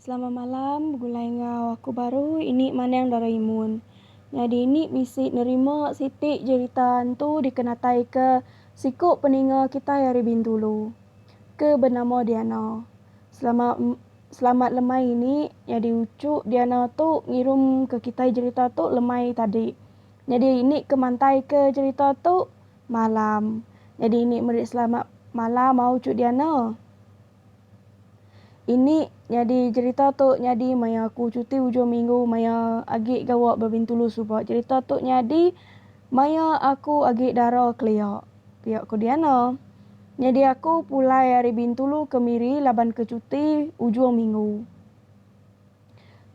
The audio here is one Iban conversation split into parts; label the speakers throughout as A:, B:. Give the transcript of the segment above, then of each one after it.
A: Selama malam begulai enggau aku baru ini mandang Doraemon. Nyadi ini bisi nerima siti jerita hantu dikenataika siku peninga kitai ari Bintulu ke benama Diana. Selama selamat lemai ini nyadi uchu Diana tu ngirumka kitai jerita tu lemai tadi. Nyadi ini ke mantai ke cerita tu malam nyadi ini meri selamat malam au cu diana. Ini nyadi cerita tu nyadi maya aku cuti ujung minggu maya agi gawa ba bintulu suba cerita tu nyadi maya aku agi dara kelia pia ku diana. Nyadi aku pulai ari bintulu ke miri laban ke cuti ujung minggu.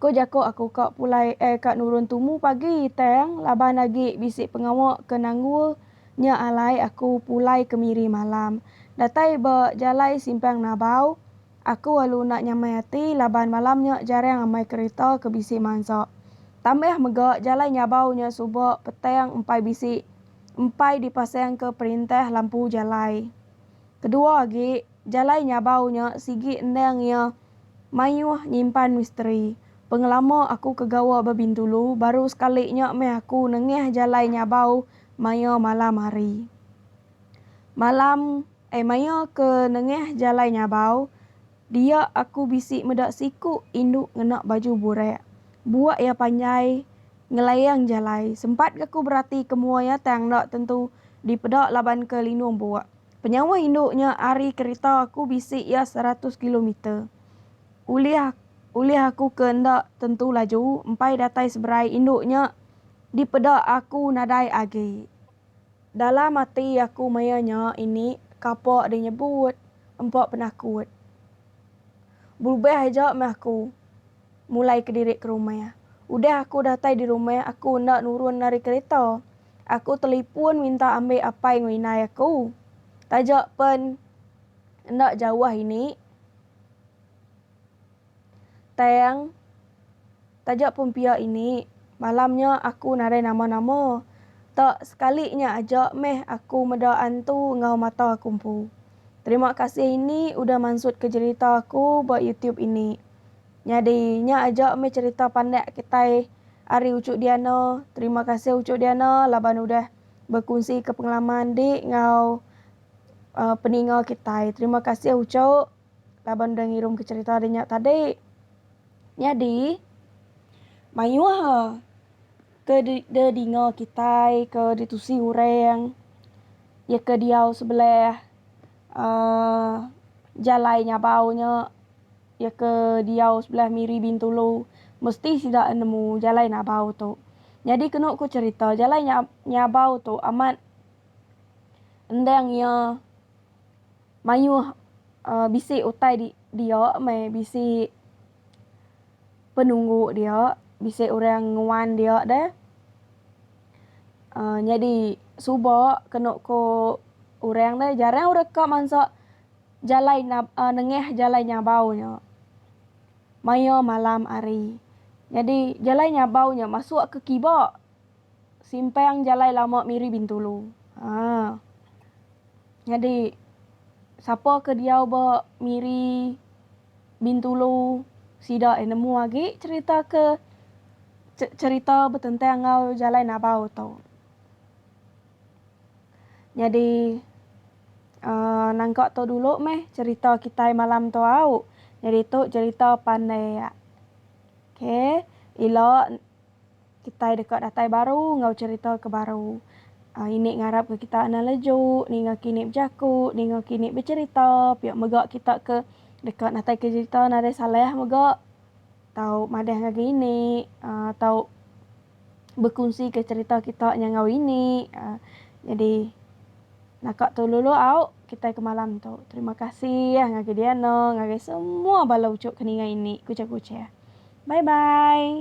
A: Ko jako aku ka pulai eh ka nurun tumu pagi tang laban agi bisi pengawa ke nanggul nya alai aku pulai kemiri malam. Datai ba jalai simpang Nabau, aku alu enda nyamai ati laban malam nya jarang amai kerita ke bisi mansa. Tambah mega jalai Nyabau nya suba petang empai bisi empai dipasang ke perintah lampu jalai. Kedua agi, jalai Nyabau nya sigi endang iya Mayuh nyimpan misteri. Pengelama aku ke gawa ba Bintulu, baru sekali nya meh aku nengah jalai nyabau maya malam hari. Malam, ai maya ke nengah jalai nyabau, dia aku bisi meda siku indu ngena baju burak. Buak iya panjai ngelayang jalai. Sempat ga ku berati ke mua iya tang enda tentu dipeda laban ke lindung buak. Penyawa indu nya ari kerita aku bisi iya seratus kilometer. Ulih ulih aku ke enda tentu laju empai datai seberai indu nya dipeda aku nadai agi. Dalam ati aku maya nya ini kapa deh nyebut empa penakut. Belubih aja meh aku. Mulai kediri ke rumah. Udah aku datai di rumah aku enda nurun ari kereta. Aku telipun minta ambi apai enggau indai aku. Taja pen enda jauh ini tang taja pun pia ini malam nya aku nadai nama-nama. Tak sekali nya aja meh aku meda antu enggau mata aku empu. Terima kasih ini udah mansutka jerita aku ba youtube ini. Nyadi nya aja meh cerita pandak kitai ari Uchu Diana. Terima kasih Uchu Diana laban udah bekunsi ke pengalaman di enggau peninga kitai. Terima kasih Uchu laban udah ngirum ke cerita de nya tadi. Nyadi mayuh ke de de dinga kitai ke ditusi orang iya ke diau sebelah aaa jalai nyabau nya. Iya ke diau sebelah miri Bintulu, mesti sida nemu jalai Nabau tu. Nyadi kenu ku cherita, jalai nya Nyabau tu amat endang iya mayuh bisi utai di dia meh bisi penunggu dia, bisi orang nguan dia deh. Nyadi suba kenu ku orang deh jarang orang ka mansa. Jalai nab a nengah jalai nyabau nya maya malam hari. Nyadi jalai nyabau nya masuk ke kiba simpang jalai lama Miri Bintulu. Ha. Nyadi sapa ke diau ba Miri Bintulu sida ai nemu agi cherita ke cherita betentang enggau jalai nabau tu. Nyadi uhh nangka tu dulu meh cerita kitai malam tu au. Nyadi tu cerita pandai yak. Okay ila kitai deka datai baru enggau cerita ke baru. Uhh ini ngarap ke kita anang leju ninga kini bejaku ninga kini becerita pia mega kita ke deka natai ke cerita nadai salah mega. tau madah ngagai ini tau bekunsi ke cerita kita nya enggau ini jadi naka tu lulu au kitai ke malam tu terima kasih ngagai diana ngagai semua bala uchu ke ninga ini kuchah kuchah bye bye.